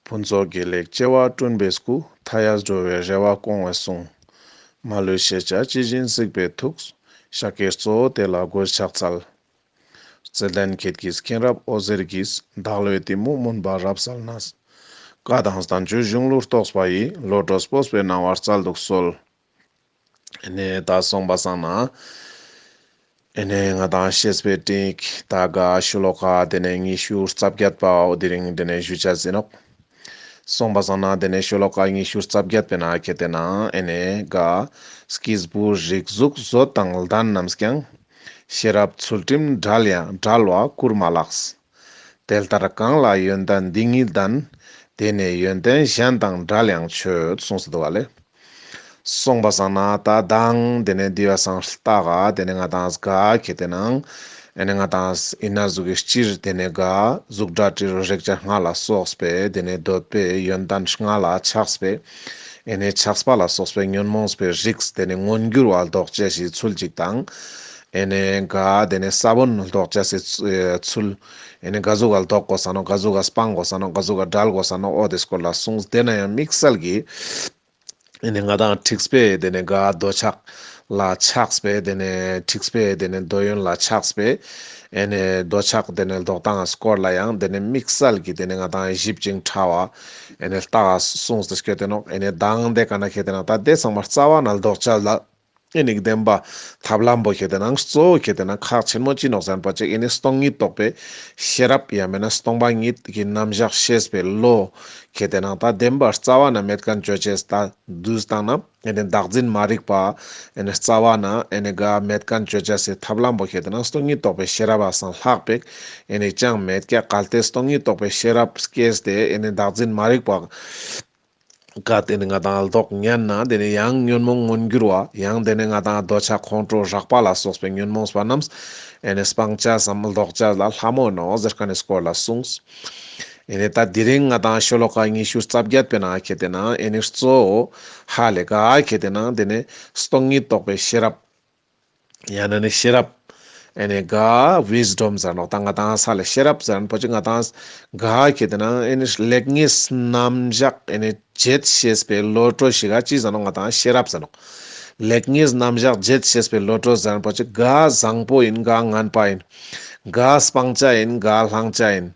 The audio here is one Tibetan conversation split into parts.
ཕུན་ཚོགས་དགེ་ལེགས་སྐྱེ་བ་བསྐྲུན་པའི་སྐུ། མཐའ་ཡས་འགྲོ་བའི་རེ་བ་སྐོང་བའི་གསུང། མ་ལུས་ཤེས་བྱ་ཇི་བཞིན་གཟིགས་པའི་ཐུགས། ཤཱཀྱའི་གཙོ་བོ་དེ་ལ་མགོས་ཕྱག་འཚལ། རྩལ་ལྡན་ཁྱེད་ཀྱིས་མཁྱེན་རབ་ཨོ་ཟེར་གྱིས། བདག་བློའི་གཏི་མུག་མུན་པ་རབ་བསལ་ན། བཀའ་དང་གསང་མཆོད་གཞུང་ལུགས་རྟོགས་པ་ཡིས། བློ་གྲོས་སྤོབས་པའི་སྣང་བ་རྩལ་དུ་གསོལ། ནས་ད་སོང་པ་སང་ན། ནས་ང་དང་ཤེས་པའི་སྟེགས་ད་ག་ཤུ་ལོ་ཀ་དེ་ནས་ཉི་ཤུ་རྩ་བརྒྱད་པ་འོ་དེ་རིང་དེ་ནས་བཞུད་བྱ་ཟིན་ནོ། སོང་པ་སང་ན་དེ་ནས་ཤུ་ལོ་ཀ་ཉི་ཤུ་རྩ་བརྒྱད་པའི་ན་ཁེ་དེ་ན་ནས་ག་ཀིས་བུ་རིགས་གཟུགས་བཟོ་དང་ལྡན་རྣམས་ཀྱང། ཤེས་རབ་ཚུལ་ཁྲིམས་འདྲལ་ཡང་འདྲལ་བ་བསྐུར་མ་ལགས། དེ་ལྟར་གང་ལ་ཡོན་ཏན་འདི་ཉིད་ལྡན། དེ་ནི་ཡོན་ཏན་གཞན་དང་འདྲ་ལེགས་མཆོད་གསུངས་སུ་འདུ་བ་ལས། གསུངས་པ་བཟང་ན་ད་དང་དེ་ནི་འདི་བས་སང་ལྟ་ག་དེ་ནི་ང་དང་ག་གལ་ཏེ་ན་ཨེ་ནི་ང་དང་ཡིན་ན་གཟུགས་ཀྱི་སྤྱིར་དེ་ནི་ག་གཟུགས་སྒྲ་དྲི་རོ་རེག་བྱ་ལྔ་ལ་སོགས་པས་དེ་ནི་འདོད་པའི་ཡོན་ཏན་ལྔ་ལ་ཆགས་པས་ཨེ་ནི་ཆགས་པ་ལ་སོགས་པའི་ཉོན་མོངས་པའི་རིགས་དེ་ནི་མངོན་གྱུར་བ་ལྡོག་ཅེས་ཞེས་ཚུལ་གཅིག་དང། ཨེ་ནས་ག་དེ་ནས་ས་བོན་ལྡོག་བྱ་སའི་ཚུལ། ཨེ་ནས་ག་གཟུགས་ག་ལ་ལྡོག་གོ་ས་ནོ་ག་གཟུགས་ག་སྤངས་གོ་ས་ནོ་ག་གཟུགས་ག་བསྒྲལ་གོ་ས་ནོ་ཨོ་དེ་སྐོར་ལ་གསུངས་དེ་ན་ཡང་དམིགས་བསལ་གྱི། ཨེ་ནས་ང་དང་འཁྲིགས་པས་དེ་ནས་ག་འདོད་ཆགས་ལ་ཆགས་པས་དེ་ནས་འཁྲིགས་པས་དེ་ནས་འདོད་ཡོན་ལ་ཆགས་པས་ཨེ་ནས་འདོད་ཆགས་དེ་ནས་ལྡོག་དང་སྐོར་ལ་ཡང་དེ་ནས་དམིགས་བསལ་གྱི་དེ་ནས་ང་དང་གཞིབ་ཅིང་ཕྲ་བ། ཨེ་ནས་རྟགས་གསུངས་དེ་སྐད་དོན་ནོ་ཨེ་ནས་གདངས་དེ་ག་ན་ཁེ་དེ་ན་ད་དེ་ཚང་མ་རྩ་བ་ན་ལྡོག་བྱ་ལ། ཨེ་ནི་བདེན་པ། ཐབས་ལམ་པོ་ཁྱེད་རྣམས་གཙོ་བོ་ཁྱེད་རྣམས་ཁག་ཆེན་མོ་སྤྱི་ནོག་ཟན་པ་གཅིག་ཨེ་ནི་སྟོང་ཉིད་རྟོགས་པའི་ཤེས་རབ་ཡང་མེད་ན་སྟོང་པ་ཉིད་ཀྱི་རྣམ་གཞག་ཤེས་པའི་བློ། ཁྱེད་རྣམས་ད་བདེན་པར་རྩ་བ་ན་མེད་ཀ་འགྱོད་བྱེད་ད་བདུད་བཏང་ན་ཨེ་ནི་བདག་འཛིན་མ་རིག་པ། ཨེ་ནི་རྩ་བ་ན་ཨེ་ནི་ག་མེད་ཀ་འགྱོད་བྱེད་སའི་ཐབས་ལམ་པོ་ཁྱེད་རྣམས་སྟོང་ཉིད་རྟོགས་པའི་ཤེས་རབ་ཨ་སང་ལྷག་པའི་ཨེ་ནི་ཅང་མེད་ཀ་གལ་ཏེ་སྟོང་ཉིད་རྟོགས་པའི་ཤེས་རབ་སྐྱེས་ཏེ་ཨེ་ནི་བདག་འཛིན་མ་རིག་པ། བཀའ་དེ་ནི་ང་དང་ལྡོག་སྙན་ན་དེ་ནི་ཡང་ཉོན་མོངས་མངོན་འགྱུར་བ། ཡང་དེ་ནི་ང་དང་འདོད་ཆགས་ཁོང་ཁྲོ་རགས་པ་ལ་སོགས་པའི་ཉོན་མོངས་པ་རྣམས་ཨེ་ནས་སྤང་བྱ་བསམ་ལྡོག་བྱ་ལ་ལྷ་མོ་ནོ་ཟེར་ཀ་ནས་སྐོར་ལ་གསུངས། ཨེ་ནས་ད་དེ་རིང་ང་དང་ཤོ་ལོ་ཀ་ཉི་ཤུ་རྩ་བརྒྱད་པའི་ན་གལ་ཏེ་ན་ཨེ་ནས་གཙོའོ། ཧ་ལས་ཀ་གལ་ཏེ་ན་དེ་ནི་སྟོང་ཉིད་རྟོགས་པའི་ཤེས་རབ། ཡང་ན་ནི་ཤེས་རབ། ཨེ་ནས་དགའ། Wisdom། ཟེར་ནོག་ད་ང་དངས་ས་ལ་ཤེས་རབ་ཟེར་ན་པོ་ཆེ་ང་དངས་ས་དགའ་ཁྱེད་དེ་ན་ཨེ་ནས་ལེགས་ཉེས་རྣམ་བཞག་ཨེ་ནས་བརྗེད་ཤེས་པའི་བློ་གྲོས་ཤིག་ག་ཅི་ཟེར་ནོག་ང་དངས་ཤེས་རབ་ཟེར་ནོག་ལེགས་ཉེས་རྣམ་བཞག་བརྗེད་ཤེས་པའི་བློ་གྲོས་ཟེར་ན་པོ་ཆེ་དགའ་བཟང་པོ་ཡིན་དགའ་ངན་པ་ཡིན། དགའ་སྤང་བྱ་ཡིན་དགའ་བསླང་བྱ་ཡིན།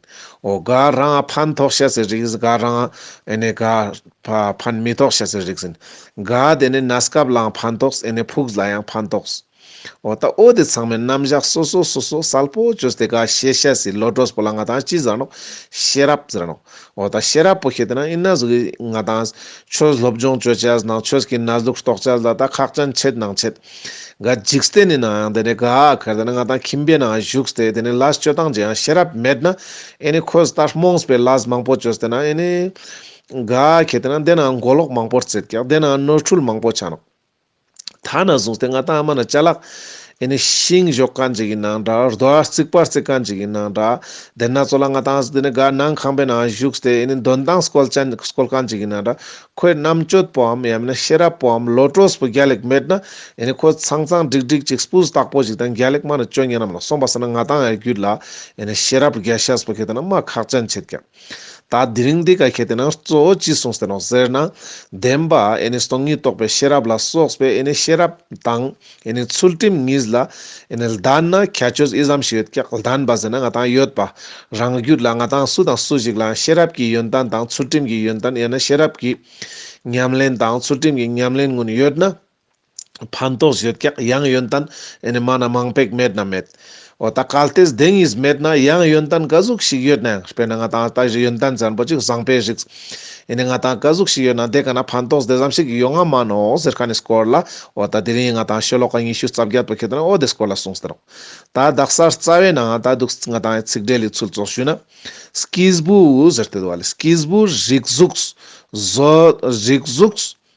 འོ་དགའ་རང་ཨ་ཕན་ཐོགས་ཤེས་ཟེར་རིགས་དགའ་རང་ཨེ་ནས་དགའ། བ་ཕན་མི་ཐོགས་བྱ་ཟེར་རིག་ཟིན། ག་དེ་ནས་ན་སྐབས་ལའང་ཕན་ཐོགས་ཨེ་ནས་ཕུགས་ལ་ཡང་ཕན་ཐོགས། འོ་ད་ཨོ་དེ་ཚང་མའི་རྣམ་བཞག་སོ་སོ་སོ་སོ་གསལ་པོ་བཅོས་ཏེ་ག་ཤེས་ཤ་ཟི་ལོ་གྲོས་པོ་ལ་ང་དང་ཅི་ཟེར་ནོ། ཤེས་རབ་ཟེར་ནོ། འོ་ད་ཤེས་རབ་པོ་ཤེས་དེ་ན་ཨི་ན་ཟུག་གི་ང་དང། ཆོས་སློབ་སྦྱོང་བཅོས་བྱས་ཟིན་ནང་ཆོས་ཀྱི་ན་ཟུག་རྟོགས་བྱས་ཟིན་ལ་ད་ཁག་ཅན་ཆེད་ནང་ཆེད། ག་འཇིགས་སྟེ་ནི་ནའང་དེ་ནས་ག་གར་དེ་ན་ང་དང་ཁྱིམ་པའི་ནང་བཞུགས་ཏེ་དེ་ནས་ལ་སྤྱོད་སྟངས་ཀྱི་ཡང་ཤེས་རབ་མེད་ན་ཨེ་ནས་ཁོས་ད་རྨོངས་པའི་ལ་མང་པོ་བཅོས་ཏེ་ན་ཨེ་ནས། འགའ་ཁྱེད་དེ་ན་འདས་ན་མགོ་ལོག་མང་པོར་བརྩེགས་ཀྱང་འདས་ན་ནོར་འཁྲུལ་མང་པོ་ཆགས། ད་ན་བཟུང་སྟེ་ང་དང་ཨ་མ་ན་ཅལ་ལགས། ཨེ་ནི་ཤིང་ཞོག་ཀ་འཇིག་ཡིན་ནང་འདྲ་རྡོ་ཨ་རྩིག་པ་རྩེག་ཀ་འཇིག་ཡིན་ནང་འདྲ། དེ་ན་ཙོ་ལ་ང་དང་ཟི་ནི་འགའ་ནང་ཁང་པའི་ནང་བཞུགས་ཏེ་ཨེ་ནི་འདོན་དང་སྐོལ་ཅན་སྐོལ་ཀ་འཇིག་ཡིན་ནང་འདྲ། ཁོའི་རྣམ་དཔྱོད་པོའམ་ཡང་མིན་ན་ཤེས་རབ་པོའམ་བློ་གྲོས་པོ་རྒྱ་ལེགས་མེད་ན་ཨེ་ནི་ཁོ་ཚང་ཚང་འགྲིག་འགྲིག་ཅིག་སྤུ་བཏགས་པོ་ཞིག་དང་རྒྱ་ལེགས་མ་ནི་སྤྱོད་ངན་རྣམས་ལ་སོང་པ་ཟེར་ན་ང་དང་ཨའི་རྒྱུད་ལ་ཨེ་ནི་ཤེས་རབ་རྒྱ་ཤེས་པོ་ཁྱེད་དེ་ན་སྨྲ་ཁག་ཅན་བྱེད་ཀྱང། ད་དེ་རིང་འདི་ག་གལ་ཏེ་ན་གཙོ་བོ་ཅི་གསུངས་ཟེར་རོ་ཟེར་ན། བདེན་པ་ཨེ་ནི་སྟོང་ཉིད་རྟོགས་པའི་ཤེས་རབ་ལ་སོགས་པའི་ཨེ་ནི་ཤེས་རབ་དང་ཨེ་ནི་ཚུལ་ཁྲིམས་གཉིས་ལ་ཨེ་ནི་ལྡན་ན་ཁྱད་ཆོས་ཨི་ཙམ་ཞིག་ཡོད་ཀྱང་ལྡན་པ་ཟེར་ན་ང་དང་ཡོད་པ་རང་རྒྱུད་ལ་ང་དང་སུ་དང་སུ་ཞིག་ལའང་ཤེས་རབ་ཀྱི་ཡོན་ཏན་དང་ཚུལ་ཁྲིམས་ཀྱི་ཡོན་ཏན་ཡང་ན་ཤེས་རབ་ཀྱི་ཉམས་ལེན་དང་ཚུལ་ཁྲིམས་ཀྱི་ཉམས་ལེན་དངོས་ཡོད་ན། ཕན་ཐོགས་བཞི་བཀག་ཡང་ཡོན་ཏན་ཨེ་མ་ན་མང་པས་མེད་ན་མེད། འོ་ད་གལ་ཏེ་གདེང་གཉིས་མེད་ན་ཡང་ཡོན་ཏན་ག་ཟུག་ཞིག་ཡོད་ནའང་དཔེར་ན་ང་དང་ལྟ་བཞི་ཡོན་ཏན་ཙན་པོ་གཅིག་བཟང་པས་ཞིག། ཨེ་ནས་ང་དང་ག་ཟུག་ཞིག་ཡོད་ན་དེ་ག་ན་ཕན་ཐོགས་དེ་ཙམ་ཞིག་ཡོད་ང་མ་ནོ་ཟེར་ཁ་ནས་སྐོར་ལ་འོ་ད་དེ་རིང་ང་དང་ཤོ་ལོ་ཀ་ཉི་ཤུ་རྩ་བརྒྱད་པོ་ཁྱེད་རང་འོ་དེ་སྐོར་ལ་གསུངས་ཟེར་རོ། ད་བདག་སར་རྩ་བའི་ནང་ད་འདུག་ང་དང་ཚིག་འགྲེལ་ལས་ཚུལ་བཙོག་ཞུས་ན། སྐྱིས་བུ་ཟེར་དེ་དུ་བ་ལས་སྐྱིས་བུ་རིགས་གཟུགས། རིགས་གཟུགས།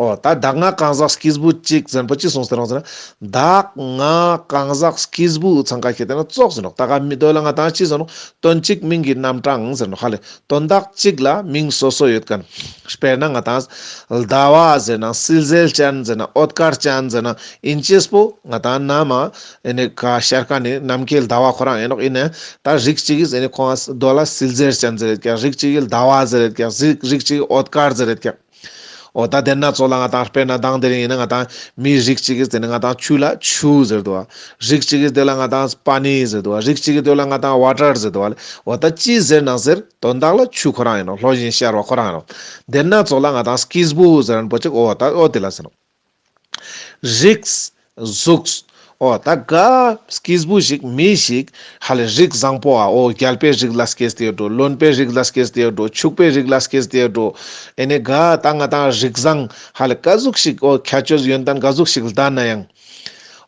ཨོ། ད་གདགས་ང་གང་ཟག་སྐྱིས་བུ་གཅིག་ཟེར་པོ་ཅི་གསུངས་ཟེར་རོང་ཟེར་ན། གདགས་ང་གང་ཟག་སྐྱིས་བུ་ཚང་ག་ཤེས་དེ་ན་བཙོག་ཟེར་རོགས་ད་ག་མི་འདོད་ལ་ང་དང་ཅི་ཟེར་རོང་དོན་གཅིག་མིང་གི་རྣམ་གྲངས་ཟེར་རོགས་ཧ་ལས་དོན་གདགས་གཅིག་ལ་མིང་སོ་སོ་ཡོད་གནས། དཔེར་ན་ང་དང། ལྡ་བ་ཟེར་ན་སིལ་ཟལ་ཅན་ཟེར་ན་ཨོད་དཀར་ཅན་ཟེར་ན་ཨིན་ཅེས་པོ་ང་དང་ན་མ་ཨེ་ནས་ག་ཤར་ཁ་ནས་ནམ་མཁའི་ལྡ་བ་ཁོ་རང་ཨེ་རོགས་ཨིན་ནས་ད་རིགས་གཅིག་གིས་ཨེ་ནས་ཁོང་ཨ་སྡོད་ལ་སིལ་ཟལ་ཅན་ཟེར་ཡོད་ཀྱང་རིགས་གཅིག་གིས་ལྡ་བ་ཟེར་ཡོད་ཀྱང་རིགས་གཅིག་གིས་ཨོད་དཀར་ཟེར་ཡོད་ཀྱང། འོ་ད་དེར་ན་ཚོགས་ལ་ང་དང་སྤེལ་ན་དང་དེ་རིང་ཡིན་ན་ང་དང་མི་རིགས་གཅིག་གིས་བརྩེ་ན་ང་དང་ཆུ་ལ་ཆུ་ཟེར་དུ་བ། རིགས་གཅིག་གིས་སྡོད་ལ་ང་དང་པ་ནི་ཟེར་དུ་བ་རིགས་གཅིག་གིས་སྡོད་ལ་ང་དང་བ་ཀྲར་ཟེར་དུ་བ་ལས་འོ་ད་ཅི་ཟེར་ན་ཟེར་དོན་དག་ལ་ཆུ་ཁོ་རང་ཡིན་ནོ་ལྷོ་བཞིན་ཤར་བ་ཁོ་རང་ཡིན་ནོ། དེར་ན་ཚོགས་ལ་ང་དང་སྐིས་བུ་ཟེར་རན་པོ་ཅིག་འོ་ད་འོ་དེ་ལ་ཟེར་ནོ། རིགས། གཟུགས། ཨོ། ད་ག། སྐྱེས་བུ་ཞིག་མི་ཞིག། ཧ་ལས་རིགས་བཟང་པོ་ཨ། ཨོ། རྒྱལ་པོའི་རིགས་ལ་སྐྱེས་ཟེར་འགྲོ། རློན་པོའི་རིགས་ལ་སྐྱེས་ཟེར་འགྲོ། ཕྱུག་པོའི་རིགས་ལ་སྐྱེས་ཟེར་འགྲོ། ཨེ་ནས་ག། ད་ང་ད་རིགས་བཟང། ཧ་ལས་ག་གཟུགས་ཞིག་ཨོ། ཁྱད་ཆོས་ཡོན་ཏན་ག་གཟུགས་ཞིག་ལྡ་ན་ཡང།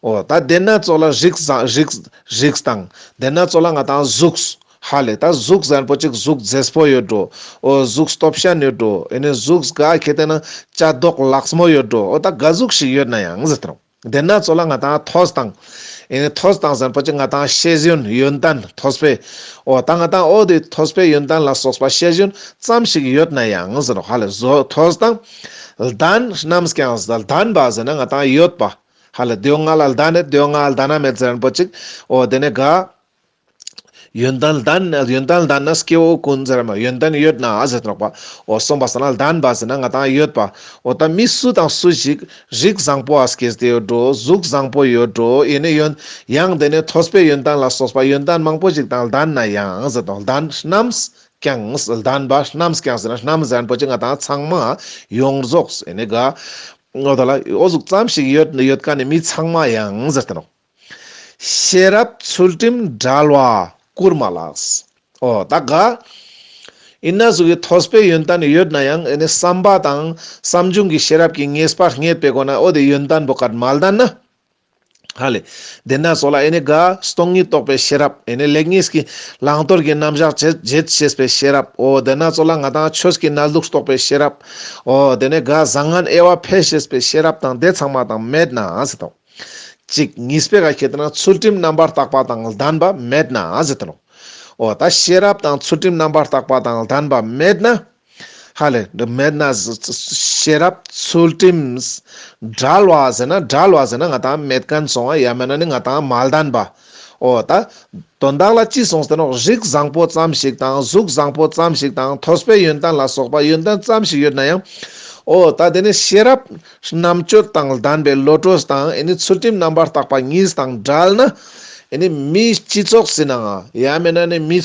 ཨོ། ད་དེ་སྣ་ཚོགས་ལ་རིགས་བཟང། རིགས། རིགས། དང། དེ་སྣ་ཚོགས་ལ་ང་ད་གཟུགས། ཧ་ལས་ད་གཟུགས་གཟན་པོ་གཅིག་གཟུགས་རྫེས་པོ་ཡོད་འགྲོ་ཨོ་གཟུགས་སྟོབས་ཤ་ནུས་འགྲོ་ཨེ་ནས་གཟུགས་ག་གེ་དེ་ན་ལྕགས་རྡོག་ལགས་མོ་ཡོད་འགྲོ་ཨོ་ད་ག་གཟུགས་ཤིག་ཡོད་ན་ཡང་ཟེར་ཏོ་དེ་ན་ཚོ་ལ་ང་དང་ཐོས་དང་ཨེ་ནས་ཐོས་དང་གཟན་པོ་གཅིག་ང་དང་ཤེས་བཞིན་ཡོན་ཏན་ཐོས་པས་ཨོ་ད་ང་དང་ཨོ་དེ་ཐོས་པས་ཡོན་ཏན་ལ་སོགས་པ་ཤེས་བཞིན་ཙམ་ཞིག་ཡོད་ན་ཡང་ཟེར་རོ་ཧ་ལས་བཟོ་ཐོས་དང་ལྡན་རྣམས་ཀྱང་ལྡན་པ་ཟེར་ན་ང་དང་ཡོད་པ་ཧ་ལས་དེའོ་ང་ལ་ལྡན་ནས་དེའོ་ང་ལ་ལྡན་ན་མེད་གཟན་པོ་གཅིག་ཨོ་དེ་ནས་ག། ཡོན་ཏན་ལྡན་ན་ཡོན་ཏན་ལྡན་ན་སྐྱེ་བོ་ཀུན་ཟེར་མ་ཡོན་ཏན་ཡོད་ན་ཟེར་དྲག་པ་འོ་གསུངས་པ་ཟེར་ན་ལྡན་པ་ཟེར་ན་ང་དང་ཡོད་པ་འོ་ད་མི་སུ་དང་སུ་ཞིག་རིགས་བཟང་པོ་ཨ་སྐྱེས་དེ་ཡོད་འགྲོ་གཟུགས་བཟང་པོ་ཡོད་འགྲོ་ཡེ་ནས་ཡོན་ཡང་དེ་ནས་ཐོས་པའི་ཡོན་ཏན་ལ་སོགས་པ་ཡོན་ཏན་མང་པོ་ཞིག་དང་ལྡན་ན་ཡང་ཟེར་དང་ལྡན་རྣམས་ཀྱང་ལྡན་པ་རྣམས་ཀྱང་ཟེར་ན་རྣམས་ལྡན་པོ་ཅི་ང་དང་ཚང་མ་ཡོངས་རྫོགས་ཡེ་ནས་དགའ་འོ་ད་ལ་ཨོ་གཟུགས་ཙམ་ཞིག་ཡོད་ཡོད་དཀའ་ནས་མི་ཚང་མ་ཡང་ཟེར་དང་རོགས། ཤེས་རབ་ཚུལ་ཁྲིམས་དགྲ་ལ་བསྐུར་མ་ལགས། ཨོ་ད་ག། ཡིན་ན་གཟུགས་ཀྱི་ཐོག་སྤེལ་ཡོན་ཏན་ཡོད་ན་ཡང་ཨེ་ནི་བསམ་པ་དང་བསམ་བྱུང་གི་ཤེས་རབ་ཀྱིས་ངེས་པར་རྙེད་པའི་སྒོ་ན་ཨོ་དེ་ཡོན་ཏན་པོ་ཀར་མ་ལྡན་ན། ཧ་ལས། དེ་ན་སོགས་ལ་ཨེ་ནི་ག། སྟོང་ཉིད་རྟོགས་པའི་ཤེས་རབ་ཨེ་ནི་ལེགས་ཉེས་ཀྱི་བླང་དོར་གྱི་རྣམ་གཞག་བྱེད་བྱེད་ཤེས་པའི་ཤེས་རབ་ཨོ་དེ་ན་སོགས་ལ་ང་དང་ཆོས་ཀྱི་རྣལ་དུག་རྟོགས་པའི་ཤེས་རབ་ཨོ་དེ་ནས་ག་བཟང་ངན་དབྱེ་བ་འཕེལ་ཤེས་པའི་ཤེས་རབ་དང་དེ་ཚང་མ་དང་མེད་ན་ཟེར་ཏོ། གཅིག་ངེས་པའི་ག་ཁྱེད་རྣམས་ཚུལ་ཁྲིམས་རྣམ་པར་དག་པ་དང་ལྡན་པ་མེད་ན་ཟེར་ཏེ་ལོ། འོ་ད་ཤེས་རབ་དང་ཚུལ་ཁྲིམས་རྣམ་པར་དག་པ་དང་ལྡན་པ་མེད་ན། ཧ་ལས་འདི་མེད་ན། ཤེས་རབ་ཚུལ་ཁྲིམས། བསྒྲལ་བ་ཟེར་ན་བསྒྲལ་བ་ཟེར་ན་ང་དང་མེད་ཀན་སོང་བ་ཡ་མེད་ན་ནི་ང་དང་མ་ལྡན་པ། ཨོ་ད། དོན་དག་ལ་ཅི་གསུངས་ཟེར་ན་རིགས་བཟང་པོ་ཙམ་ཞིག་དང་གཟུགས་བཟང་པོ་ཙམ་ཞིག་དང་ཐོས་པའི་ཡོན་ཏན་ལ་སོགས་པ་ཡོན་ཏན་ཙམ་ཞིག་ཡོད་ན་ཡང། ཨོ་ད་དེ་ནི་ཤེས་རབ། རྣམ་དཔྱོད་དང་ལྡན་པའི་བློ་གྲོས་དང་ཡེ་ནས་ཚུལ་ཁྲིམས་རྣམ་པར་དག་པ་གཉིས་དང་བྲལ་ན། ཡེ་ནས་མིའི་སྤྱི་ཚོགས་སྲིད་ན་འང་ཡ་མེད་ན་ནི་མི།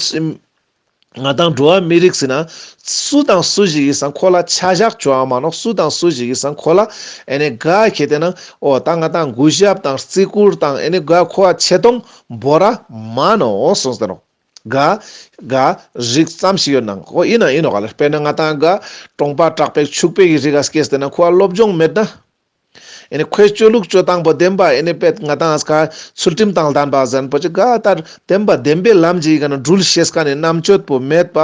ང་དང་འགྲོ་བ་མི་རིགས་ཟེར་ན། སུ་དང་སུ་ཞིག་གིས་ཟ་འཁོར་ལ་ཆ་བཞག་བྱོ་ཨ་མ་ནོ་སུ་དང་སུ་ཞིག་གིས་ཟ་འཁོར་ལ་ཨེ་ནེ་ག་ཁྱེད་དེ་ན་ཨོ་ད་ང་དང་གུ་ཞབས་དང་རྩི་བཀུར་དང་ཨེ་ནེ་ག་ཁོ་བ་ཆེ་མཐོང་འབོ་ར་མ་ནོ་སོང་ཟེར་རོ། ག། ག། རིགས་ཙམ་ཞིག་ཡོད་ན་འང་ཨོ་ཡིན་ན་ཡིན་ནོ་ག་ལེར་དཔེར་ན་ང་དང་ག། ཀྲོང་པ་གྲགས་པས་ཕྱུག་པའི་གི་རིགས་ག་སྐད་ཟེར་ན་ཁོ་བ་སློབ་སྦྱོང་མེད་ན། ཁོའི་སྤྱོད་ལུགས་སྤྱོད་སྟངས་པོ་བདེན་པ་པད་ང་དང་ཚུལ་ཁྲིམས་དང་ལྡན་པ་གཟན་པོ་ཆེ་དགའ་ལྟར་བདེན་པ་བདེན་པའི་ལམ་གྱིས་སྒྲུལ་ཞེས་རྣམ་དཔྱོད་པོ་མེད་པ་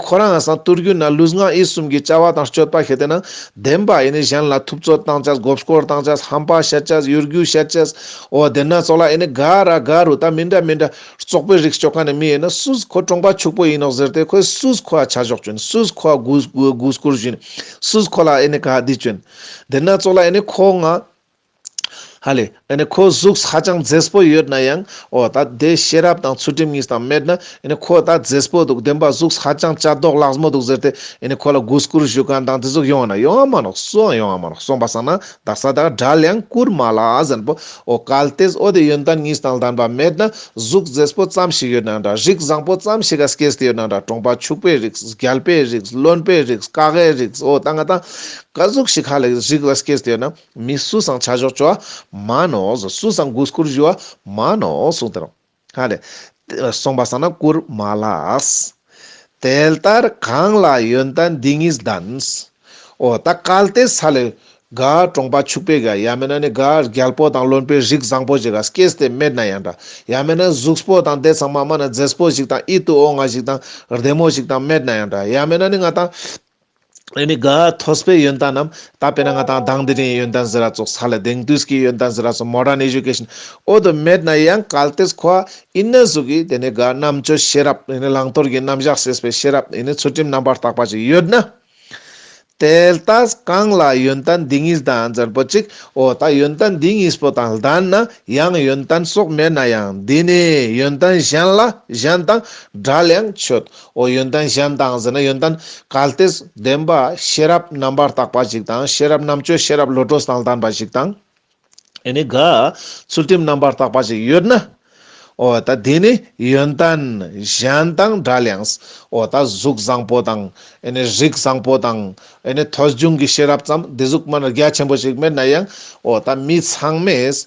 ཁོ་རང་བསྟུར་རྒྱུ་ན་ལུས་ངག་ཡིད་གསུམ་གྱི་བཅའ་བ་དང་སྤྱོད་པ་ཤེས་ཏེ་ན་བདེན་པ་གཞན་ལ་ཐུབ་ཚོད་བཏང་ཆ་གོབ་སྐོར་བཏང་ཆ་ཧམ་པ་བཤད་ཆ་གཡོ་སྒྱུ་བཤད་ཆ་འོ་བདེན་ན་ཚོགས་ལ་དགའ་ར་དགའ་རུ་ད་མི་འདྲ་མི་འདྲ་ཙོག་པོའི་རིགས་སྤྱོད་ཁ་ནས་མི་ཡོད་ན་སུས་ཁོ་གྲོང་པ་ཕྱུག་པོ་ཡིན་ནོག་ཟེར་ཏེ་ཁོས་སུས་ཁོ་ལ་ཆ་ཞོག་བྱོན་སུས་ཁོ་ལ་གུས་བཀུར་བྱོན་སུས་ཁོ་ལ་དགའ་བདེ་བྱོན། དེ་སྣ་ཚོགས་ལ་ཡང་ནི་ཁོ་ང། ཧ་ལས། ཡང་ནི་ཁོའི་གཟུགས་ཧ་ཅང་མཛེས་པོ་ཡོད་ན་ཡང། འོ་ད་དེ་ཤེས་རབ་དང་ཚུལ་ཁྲིམས་གཉིས་དང་མེད་ན། ཡང་ནི་ཁོ་ད་མཛེས་པོ་འདུག་བདེན་པ་གཟུགས་ཧ་ཅང་བྱ་དོག་ལགས་མོ་འདུག་ཟེར་ཏེ། ཡང་ནི་ཁོ་ལ་གུས་བཀུར་ཞུ་གང་དང་དེ་གཟུགས་ཡོང་ན་ཡོང་མ་རུང་སུའང་ཡོང་མ་རུང་སོང་པ་བསམ་ན་བདག་ས་དང་དགྲ་ལ་ཡང་བཀུར་མ་ལ་ཟན་པོ། འོ་གལ་ཏེ་འོ་དེ་ཡོན་ཏན་གཉིས་དང་ལྡན་པ་མེད་ན། གཟུགས་མཛེས་པོ་ཙམ་ཞིག་ཡོད་ན་འདྲ་རིགས་བཟང་པོ་ཙམ་ཞིག་ག་ས་ཀྱེ་ས་དེ་ཡོད་ན་འདྲ་གྲོང་པ་ཕྱུག་པའི་རིགས་རྒྱལ་པོའི་རིགས་བློན་པོའི་རིགས་བཀའ་ཁའི་རིགས་འོ་ད་ང་དང། བཀའ་ཟུར་ཞི་ཁ་ལེགས་རིགས་རིགས་ལ་སྐྱེས་ཟློས་ན་མི་སུ་སང་བྱ་གཞོག་བཅོ་མ་ནོ་ཟུ་སུ་སང་གུས་བཀུར་བཞུ་མ་ནོ་གསུངས་དེ་རང་ཧ་ལས་གསུངས་པ་སང་ན་བཀུར་མ་ལགས། དེ་ལྟར་གང་ལ་ཡོན་ད་འདི་གཉིས་གདམས། ཨོ་ད་གལ་ཏེ་ས་ལེ་ག་གྲོང་པ་ཕྱུག་པའི་ག་ཡ་མེན་ན་ནི་ག་རྒྱལ་པོ་དང་བློན་པོའི་རིགས་བཟང་པོ་ཞིག་ག་སྐྱེས་ཟློས་མེད་ན་ཡང་འདྲ་ཡ་མེན་ན་གཟུགས་པོ་དང་དེ་ཚང་མ་མ་ན་མཛེས་པོ་ཞིག་དང་ཨི་ཏུ་ཨོ་ང་ཞིག་དང་བདེ་མོ་ཞིག་དང་མེད་ན་ཡང་འདྲ་ཡ་མེན་ན་ནི་ང་དང། ཨེ་མི་ག། ཐོས་པའི་ཡོན་ཏན་ནམ། ད་དཔེར་ན་ང་དང་དང་དེ་རིང་ཡོན་ཏན་ཟེར་ར་ཙོག་ས་ལ་དེང་དུས་ཀྱི་ཡོན་ཏན་ཟེར་ར་ཙོག Modern Education འོག་ཏུ་མེད་ན་ཡང་གལ་ཏེ་ཁོ་ཨིན་ན་གཟུགས་ཀྱི་དེ་ནི་ག་རྣམ་དཔྱོད་ཤེས་རབ་ཨེ་ནི་བླང་དོར་གྱི་རྣམ་གཞག་ཤེས་པའི་ཤེས་རབ་ཨེ་ནི་ཚུལ་ཁྲིམས་རྣམ་པར་དག་པ་ཞིག་ཡོད་ན། དེལ་ད་གང་ལ་ཡོན་ཏན་འདི་གཉིས་དང་ལྡན་པོ་ཅིག་འོ་ད་ཡོན་ཏན་འདི་གཉིས་པོ་དང་ལྡན་ན་ཡང་ཡོན་ཏན་སོགས་མེད་ན་ཡང་འདི་ནི་ཡོན་ཏན་གཞན་ལ་གཞན་དང་འདྲ་ལ་ཡང་ཆོས་ཨོ་ཡོན་ཏན་གཞན་དང་ཟེར་ན་ཡོན་ཏན་གལ་ཏེ་ལྡན་པ་ཤེས་རབ་རྣམ་པར་དག་པ་ཞིག་དང་ཤེས་རབ་རྣམ་དཔྱོད་ཤེས་རབ་བློ་གྲོས་དང་ལྡན་པ་ཞིག་དང། ཨེ་ནི་དགའ་ཚུལ་ཁྲིམས་རྣམ་པར་དག་པ་ཞིག་ཡོད་ན། ཨོ་ད་དེ་ནི་ཡོན་ཏན་གཞན་དང་འདྲ་ལངས། ཨོ་ད་གཟུགས་བཟང་པོ་དང་ཨེ་ནི་རིགས་བཟང་པོ་དང་ཨེ་ནི་ཐོས་བྱུང་གི་ཤེས་རབ་ཙམ་སྡེ་གཟུགས་མ་རྒྱ་ཆེན་པོ་ཞིག་མེད་ན་ཡང་ཨོ་ད་མི་ཚང་མས།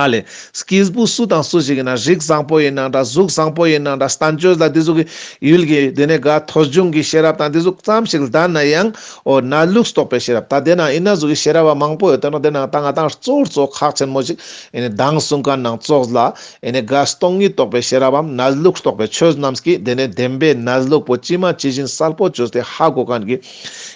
ཨཱ་ལས། སྐྱེས་བུ་སུ་དང་སུ་ཞིག་ཡིན་ན་རིགས་བཟང་པོ་ཡིན་ན་འདྲ་གཟུགས་བཟང་པོ་ཡིན་ན་འདྲ་ལྟ་འཇོན་ལ་དེ་གཟུགས་ཀྱི་ཡུལ་གྱི་དེ་ནས་དགའ་ཐོ་འབྱུང་གི་ཤེས་རབ་དང་དེ་གཟུགས་ཙམ་ཞིག་ལྡན་ན་ཡང་འོ་ན་ལུགས་རྟོགས་པའི་ཤེས་རབ་ད་དེ་ན་ཡིན་ན་གཟུགས་ཀྱི་ཤེས་རབ་བ་མང་པོ་ཡོད་དོ་ན་དེ་ནང་དང་ང་དང་གཙོ་བོར་གཙོ་ཁག་ཆེན་མོ་ཞིག་ཡིན་ནས་གདངས་གསུང་ག་ནང་གཙོ་ལ་ཡིན་ནས་དགའ་སྟོང་ཉིད་རྟོགས་པའི་ཤེས་རབ་བམ་ན་ལུགས་རྟོགས་པའི་ཆོས་རྣམས་ཀྱིས་དེ་ནས་བདེན་པའི་ན་ལུགས་པོ་ཅི་མ་ཇི་བཞིན་གསལ་པོ་བཅོས་ཏེ་ཧ་གོ་གང་གི།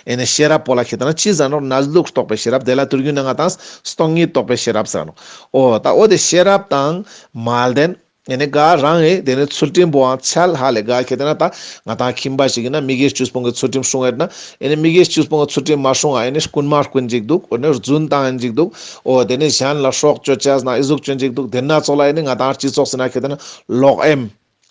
ཨེ་ནས་ཤེས་རབ་པོ་ལ་ཁྱེད་རང་ཅི་ཟེར་ནོ་ན་ལུགས་རྟོགས་པའི་ཤེས་རབ་དེ་ལ་དུར་རྒྱུན་ནི་ལྔ་དང། སྟོང་ཉིད་རྟོགས་པའི་ཤེས་རབ་ཟེར་ནོ། ཨོ་ད་ཨོ་དེ་ཤེས་རབ་དང། མ་ལྡན། ཨེ་ནས་དགའ་རང་ཨེ་དེ་ནས་ཚུལ་ཁྲིམས་པོའང་ཆལ་ཧ་ལས་དགའ་ཁྱེད་རང་ད་ང་དང་ཁྱིམ་པ་ཞིག་ཡིན་ན་མི་དགེ་བཅུ་སྤོང་གི་ཚུལ་ཁྲིམས་སྲུང་ཨེ་ན། ཨེ་ནས་མི་དགེ་བཅུ་སྤོང་གི་ཚུལ་ཁྲིམས་མ་སྲུང་ཨ་ཨེ་ནས་རྐུན་མ་རྐུན་ཅིག་འདུག་ཨོ་ནས་རྫུན་དང་ཨེ་འཇིགས་འདུག་ཨོ་དེ་ནས་གཞན་ལ་ཧྲོག་གཅོད་བྱས་ན་ཨེ་གཟུགས་གཅོད་ཅིག་འདུག་དེ་སྣ་ཚོགས་ལ་ཨེ་ནས་ང་དང་སྤྱི་ཚོགས་ཟེར་ན་ཁྱེད་རང་ལོག་ཨེམ།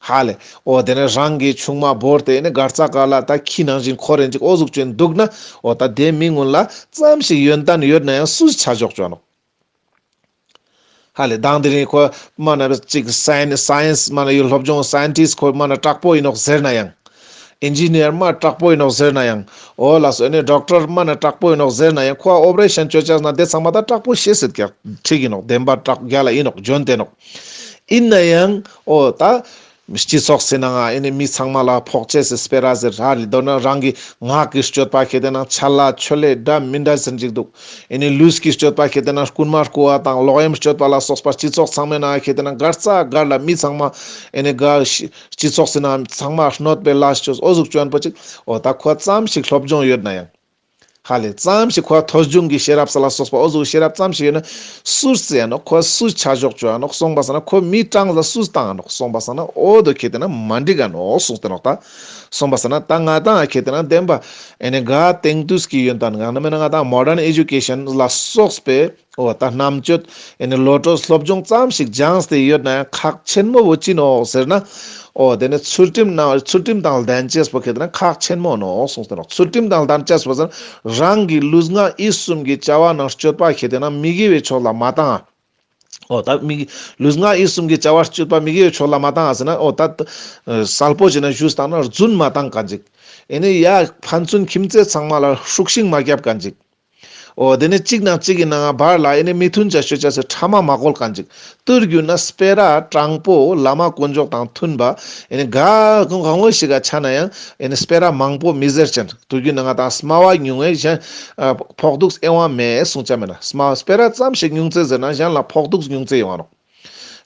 ཧ་ལས། ཨོ་དེ་ནས་རང་གི་ཆུང་མ་བོར་ཏེ་ནི་སྒར་རྩ་ཀ་ལ་ད་ཁྱི་ནང་བཞིན་ཁོ་རེ་འཇིག་ཨོ་གཟུགས་ཅན་འདུག་ན་ཨོ་ད་དེ་མི་སྔོན་ལ་ཙམ་ཞིག་ཡོན་ཏན་ཡོད་ན་ཡང་སུས་ཆ་འཇོག་ཅོནོ། ཧ་ལས་དང་དེ་རིང་ཁོ་སྨ་ན་གཅིག་སན Science སྨ་ན་ཡོད་སློབ་སྦྱོང Scientist ཁོ་སྨ་ན་དྲག་པོ་ཡིན་ནོག་ཟེར་ན་ཡང། Engineer སྨ་དྲག་པོ་ཡིན་ནོག་ཟེར་ན་ཡང་ཨོ་ལ་སོས་ནས Doctor སྨ་ན་དྲག་པོ་ཡིན་ནོག་ཟེར་ན་ཡང་ཁོ་ཨ Operation བཅོས་བཅགས་ན་དེ་ཚང་མ་ད་དྲག་པོ་ཤེས་སྲིད་ཀྱག་ཁྲིག་ཡིན་ནོག་བདེན་པ་དྲག་རྒྱ་ལ་ཡིན་ནོག་འཇོན་ཏེ་ནོག་ཡིན་ན་ཡང། ཨོ། ད། སྤྱི་ཚོགས་ཟེར་ནའང་ཨེ་ནས་མི་ཚང་མ་ལ་ཕོག་ཆས་ཟེར་སྤེལ་ར་ཟེར་ར་རེད་མདོར་ན་རང་གི་ངག་གི་སྤྱོད་པ་གལ་ཏེ་ན་ཆ་ལ་ཆོ་ལེ་འདྲ་མི་འདྲ་ཟེར་འཇིག་འདུག་ཨེ་ནས་ལུས་ཀྱི་སྤྱོད་པ་གལ་ཏེ་ན་རྐུན་མ་རྐུ་བ་དང་ལོག་གཡེམ་སྤྱོད་པ་ལ་སོགས་པ་སྤྱི་ཚོགས་ཚང་མས་ན་གལ་ཏེ་ན་སྒར་རྩ་སྒར་ལ་མི་ཚང་མ་ཨེ་ནས་དགའ། སྤྱི་ཚོགས་ཟེར་ནའང་མི་ཚང་མ་གནོད་པའི་ལ་སྤྱོད་ཨོ་གཟུགས་སྐྱོན་པོ་ཅིག་ཨོ། ད་ཁོ་ཙམ་ཞིག་སློབ་སྦྱོང་ཡོད་ན་ཡང། ཧ་ལས་ཙམ་ཞིག་ཁོ་ཐོས་བྱུང་གི་ཤེས་རབ་ས་ལ་སོགས་པའོ་གཟུགས་ཤེས་རབ་ཙམ་ཞིག་ཡོད་ན་སུ་ཟེར་ཡ་ནོ་ཁོ་སུ་ཆ་ཞོག་ཅོ་ཡ་ནོ་གསུངས་པ་ཟེར་ན་ཁོ་མི་སྤྲང་ས་སུ་སྤྲང་ཡ་ནོ་གསུངས་པ་ཟེར་ན་ཨོ་དོ་ཁྱེད་དེ་ན་མ་འགྲིག་ག་ནོ་གསུངས་ཏེ་ལོག་ལྟ་གསུངས་པ་ཟེར་ན་ད་ང་དང་ཁྱེད་དེ་ན་བདེན་པ་ཨེ་ནས་ག་དེང་དུས་ཀྱི་ཡོན་ཏན་གང་ན་མེད་ན་ང་དང Modern Education ལ་སོགས་པའི། ཨོ་ད་རྣམ་དཔྱོད་ཨེ་ནི་བློ་གྲོས་སློབ་སྦྱོང་ཙམ་ཞིག་སྦྱངས་ཏེ་ཡོད་ན་ཁག་ཆེན་མོ་བོ་ཅི་ནོག་ཟེར་ན། ཨོ་དེ་ནི་ཚུལ་ཁྲིམས་གནང་ཚུལ་ཁྲིམས་དང་ལྡན་ཅེས་པོ་གལ་ཏེ་ན་ཁག་ཆེན་མོ་ནོག་གསུངས་ཏེ་ནོག་ཚུལ་ཁྲིམས་དང་ལྡན་ཅེས་པོ་ཟེར་ན་རང་གི་ལུས་ངག་ཡིད་གསུམ་གྱི་བྱ་བ་རྣམས་སྤྱོད་པ་གལ་ཏེ་ན་མི་དགེ་བའི་ཕྱོགས་ལ་མ་བཏང་ཨ། ཨོ་ད་མི་དགེ་ལུས་ངག་ཡིད་གསུམ་གྱི་བྱ་བ་སྤྱོད་པ་མི་དགེ་བའི་ཕྱོགས་ལ་མ་བཏང་ཨ་ཟེར་ན་ཨོ་ད། གསལ་པོ་བྱས་ན་བཞུགས་སྟངས་ན་བརྫུན་མ་བཏང་ག་འཇིག། ཨེ་ནི་ཡ། ཕན་ཚུན་ཁྱིམ་མཚེས་ཚང་མ་ལ་ཧྲུག་ཤིང་མ་བརྒྱབ་ག་འཇིག། ཨོ་དེ་ནས་གཅིག་དང་གཅིག་གི་ནང་ང་བར་ལ་ཨེ་ནི་མི་མཐུན་བྱ་ཤོད་བྱ་སའི་ཕྲ་མ་མ་བཀོལ་གང་ཅིག་ཏུ་རྒྱུ་ན་སྤེལ་ར་དྲང་པོ་བླ་མ་དཀོན་མཆོག་དང་མཐུན་པ་ཨེ་ནི་ག་གང་གང་བོ་ཞིག་ག་ཆ་ན་ཡང་ཨེ་ནི་སྤེལ་ར་མང་པོ་མི་ཟེར་ཅན་དུ་རྒྱུ་ན་ང་དང་སྨྲ་བ་ཉུང་བས་གཞན་ཕོག་ཐུགས་ཨེ་དབང་མེད་གསུང་བྱ་མེད་ན་སྨྲ་བ་སྤེལ་ར་ཙམ་ཞིག་ཉུང་ཙེ་ཟེར་ན་གཞན་ལ་ཕོག་ཐུགས་ཉུང་ཙེ་ཡོང་བ་རོགས།